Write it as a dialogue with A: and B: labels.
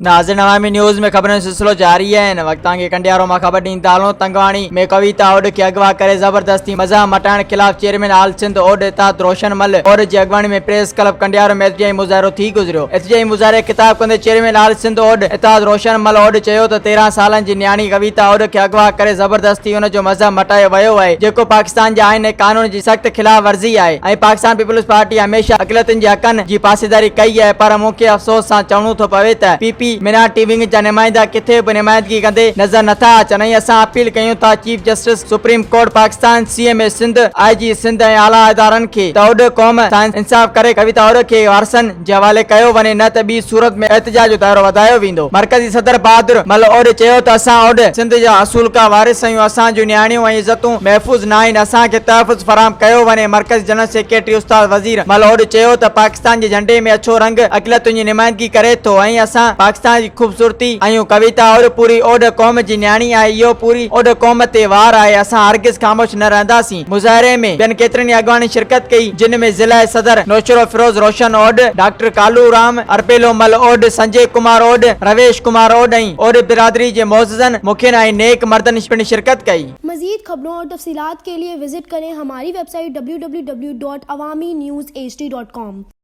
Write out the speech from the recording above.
A: ناظرين عوامي نيوز ۾ خبرن جو سلسلو جاري آهي هن وقت توهان کي ڪنڊيارو مان خبر ڏيندا هلون تنگواڻي ۾ ڪويتا اوڏ کي اغوا ڪري زبردستي مذهب مٽائڻ خلاف چيئرمين آل سنڌ اوڏ اتحاد روشن مل اوڏ جي اڳواڻي ۾ پريس ڪلب ڪنڊيارو ۾ احتجاجي مظاهرو ٿي گذريو احتجاجي مظاهري کي خطاب ڪندي چيئرمين آل سنڌ اوڏ اتحاد روشن مل اوڏ چيو ته تيرهن سالن جي نياڻي ڪويتا اوڏ کي اغوا ڪري زبردستي ٿي ان جو مذهب مٽايو ويو آهي جيڪو پاڪستان جي آئين ۽ قانون جي سخت خلاف ورزي آهي ۽ پاڪستان پيپلز پارٽي هميشه اقليتن جي حقن جي پاسداري ڪئي آهي پر مون کي افسوس سان چوڻو ٿو پوي ته پي پي مينارٽي ونگ جا نمائندا ڪٿي به نمائندگي ڪندي نظر نٿا اچن ۽ اسان اپيل ڪيون ٿا chief justice supreme court Pakistan C M اي سنڌ آء جي سنڌ ۽ اعليٰ ادارن کي ته اوڏ قوم سان انصاف ڪري ڪويتا اوڏ کي وارثن جي حوالي ڪيو وڃي نه ته ٻي صورت ۾ احتجاج جو دائرو وڌايو ويندو مرڪزي صدر بهادر مل اوڏ چيو ته اسان اوڏ سنڌ جا اصول ڪا وارث آهيون اسان جون نياڻيون ۽ عزتون محفوظ ناهن اسان کي تحفظ فراهم ڪيو وڃي مرڪزي جنرل سيڪريٽري استاد وزير مل اوڏ چيو ته پاڪستان جي جهنڊي ۾ اڇو رنگ اقليتن جي نمائندگي ڪري ٿو ۽ اسان پاڪستان جي خوبصورتي آهيون ڪويتا اوڏ پوري اوڏ قوم جي نياڻي آهي اهو پوري اوڏ قوم تي وار آهي اسان هرگز خاموش نه رهنداسين. مظاهري ۾ ٻين ڪيترن ئي اڳواڻن شرڪت ڪئي جن ۾ ضلع صدر نوشھرو فيروز روشن اوڏ، ڊاڪٽر ڪالو رام، ارپيلو مل اوڏ، سنجي ڪمار اوڏ، رويش ڪمار اوڏ ۽ اوڏ برادري جي معززن، مکين ۽ نيڪ مردن پڻ شرڪت ڪئي. مزيد خبرون اور
B: تفصيلات کے لئے وزٽ کریں ہماری ويب سائيٽ www.awaminews hd.com.